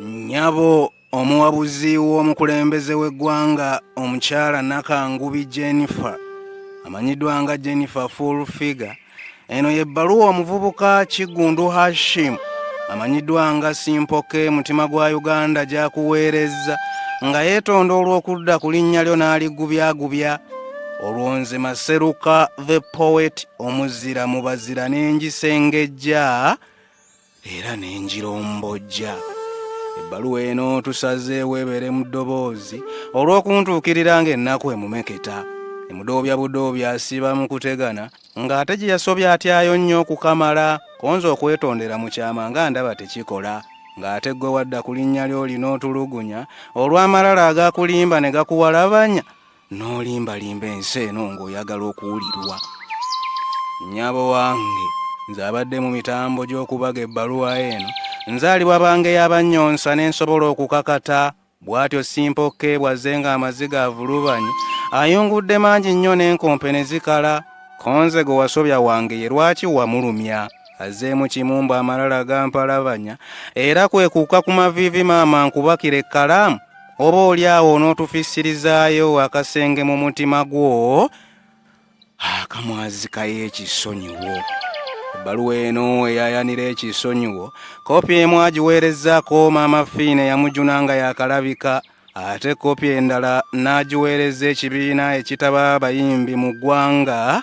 nyabo omuwabuzi w'omukulembeze w'eggwanga omukyala nakangubi jennifer amanyiddwa nga jennifer full figure eno yebbaluwa omuvubuka kiggundu hashim amanyiddwa nga simpoke mutima gwa uganda gyakuweerezza nga yeetonda olw'okudda ku linnya lyo n'aligubyagubya olwo nze maseruka the poet omuzira mu bazira n'engisengejja era n'engirombojja ebbaluwa eno tusazeewo ebeere mu ddoboozi olw'okuntuukirira ng'ennaku emumeketa emudoobya budoobya asiba mu kutegana ng'ate gye yasobya atyayo nnyo okukamala konza okwetondera mu kyama nga ndaba tekikola ng'ate ggwe wadda ku linnya ly'olina otulugunya olw'amalala agakulimba ne gakuwalabanya n'olimbalimba ensi eno ng'oyagala okuwulirwa nyabo wange nze abadde mu mitambo gy'okubaga ebbaluwa eno nzaalibwa bange y'abannyonsa ne nsobola okukakata bw'atyo simpokke bwazze ng'amaziga avulubanye ayungudde mangi nnyo n'enkompe ne zikala konze gwe wasobya wange ye lwaki wamulumya azzeemu kimu mbu amalala gampalabanya era kwe kuuka ku maviivi maama nkubakira ekkalaamu oba oli awo onootufissirizaayo akasenge mu mutima gwo akamwazikayo ekisonyiwo ebbaluwa eno eyayanira ekisonyiwo kopi emu agiweerezaako maama fiina eyamujuna nga yakalabika ate kopi endala n'agiweereza ekibiina ekitaba abayimbi mu ggwanga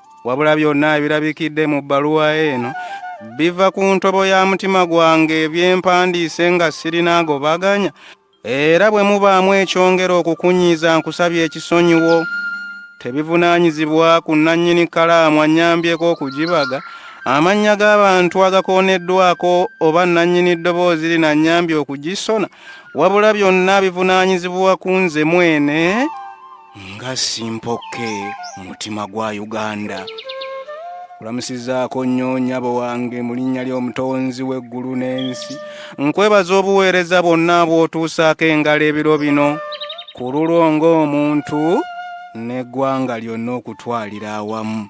wabula byonna ebirabikidde mu bbaluwa eno biva ku ntobo ya mutima gwange ebyempandiise nga sirina agobaganya era bwe mubaamu ekyongera okukunyiiza nkusabye ekisonyiwo tebivunaanyizibwa ku nnannyini kalaamu annyambyeko okugibaga amannya g'abantu agakooneddwako oba nnannyini ddoboozi lino annyambye okugisona wabula byonna bivunaanyizibwa ku nze mwene nga simpokke mutima gwa uganda kulamusizaako nnyo nyabo wange mu linnya ly'omutonzi w'eggulu n'ensi nkwebaza obuweereza bwonna bw'otuusaako engalo ebiro bino ku lulwo ng'omuntu n'eggwanga lyonna okutwalira awamu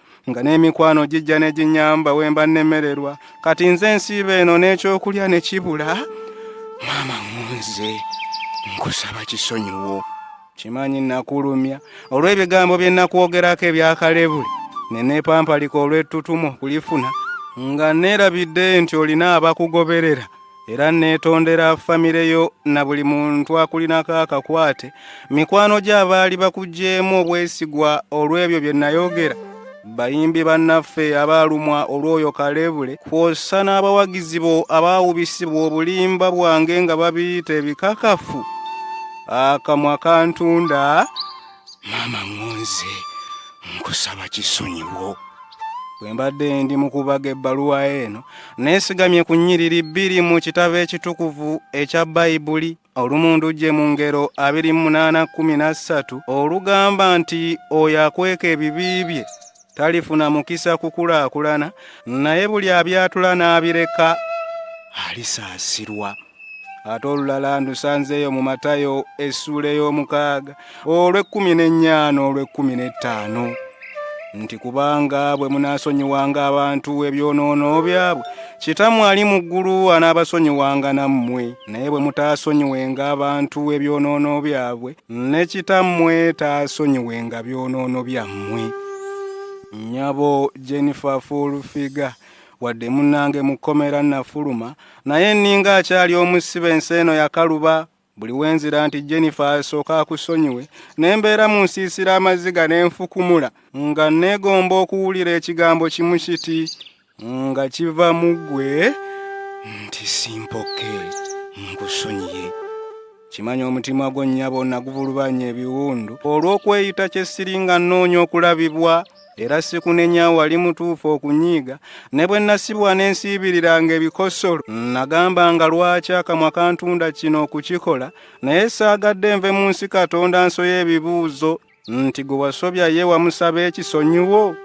nga n'emikwano gijja ne ginyamba wemba nnemererwa kati nze ensiiba eno n'ekyokulya ne kibula maama ngunze nkusaba kisonyiwo kimanyi nakulumya olw'ebigambo bye nakwogerako ebyakalebule ne neepampalika olw'ettutumu okulifuna nga neerabidde nti olina abakugoberera era neetondera famire yo na buli muntu akulinako akakwate mikwano gyo abaali bakugyemu obwesigwa olw'ebyo bye nayogera bayimbi bannaffe abaalumwa olw'oyo kalebule kwossa n'abawagizi bo abaawubisibwa obulimba bwange nga babiyita ebikakafu akamwa kantunda maama ŋŋonze nkusaba kisonyiwo bwe mbadde ndi mu kubaga ebbaluwa eno neesigamye ku nnyiriri bbiri mu kitabo ekitukuvu ekya bayibuli olumundu gye mu ngero 2813 olugamba nti oyo akweka ebibi bye talifuna mukisa kukulaakulana naye buli abyatula n'abireka alisaasirwa ate olulala ndusanzeeyo mu matayo essuula ey'omukaaga olw'ekkumi n'ennyaana olw'ekkumi n'ettaano nti kubanga bwe munaasonyiwanga abantu ebyonoono byabwe kitamu ali mu ggulu anaabasonyiwanga nammwe naye bwe mutaasonyiwenga abantu ebyonoono byabwe ne kitammwe taasonyiwenga byonoono byammwe nnyabo jennifer fulfiga wadde munnange mu kkomera nafuluma naye nninga akyali omusibe ensi eno yakaluba buli wenzira nti jennifer asooka akusonyiwe ne mbeera mu nsiisira amaziga ne nfukumula nga nneegomba okuwulira ekigambo kimu kiti nga kiva mu ggwe nti simpoke nkusonyiye kimanya omutima gwo nnyabo naguvulubanya ebiwundu olw'okweyita kye siringa nnoonya okulabibwa era sikunenya wali mutuufu okunyiiga ne bwe nasibwa ne nsiibiriranga ebikosolo nagamba nga lwaki akamwa kantunda kino okukikola naye saagadde nve mu nsi katonda nsoya ebibuuzo nti gwe wasobya ye wamusaba ekisonyiwo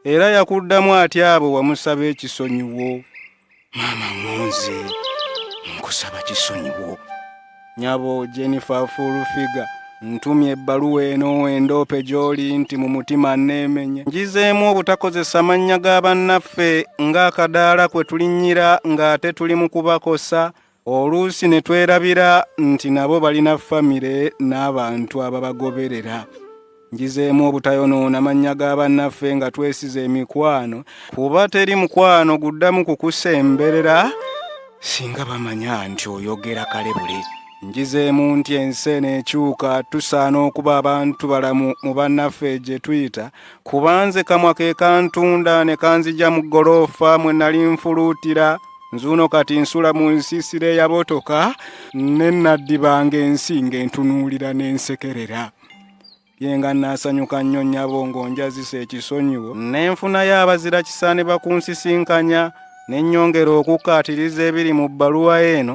era yakuddamu ati abo wamusaba ekisonyiwo maama ngonze nkusaba kisonyiwo nyabo jennifer fulfiga ntumye ebbaluwa eno endoope gy'oli nti mu mutima nneemenye ngizeemu obutakozesa mannya ga bannaffe ng'akadaala kwe tulinnyira ng'ate tuli mu kubakosa oluusi ne twerabira nti nabo balina famire n'abantu ababagoberera njizeemu obutayonoona mannya ga bannaffe nga twesiza emikwano kuba teri mukwano guddamu kukusemberera singa bamanya nti oyogera kale buli njizeemu nti ensi eno ekyuka tusaana okuba abantu balamu mu bannaffe gye tuyita kubanze kamwa ke kantunda ne kanzija mu ggoloofa mwe nali nfuluutira nzuuno kati nsula mu nsiisira eyabotoka ne naddibanga ensi ng'entunuulira n'ensekerera ye nga naasanyuka nnyo nnyabo ng'onjazisa ekisonyiwo n'enfunayo abazira kisaane bakunsisinkanya ne nnyongera okukkaatiriza ebiri mu bbaluwa eno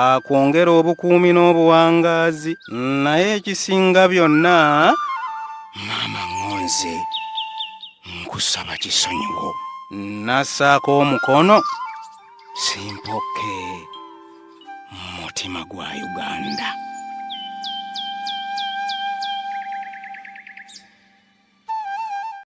akwongera obukuumi n'obuwangaazi naye ekisinga byonna maama ŋonze nkusaba kisonyiwo nassaako omukono simpoke mu mutima gwa uganda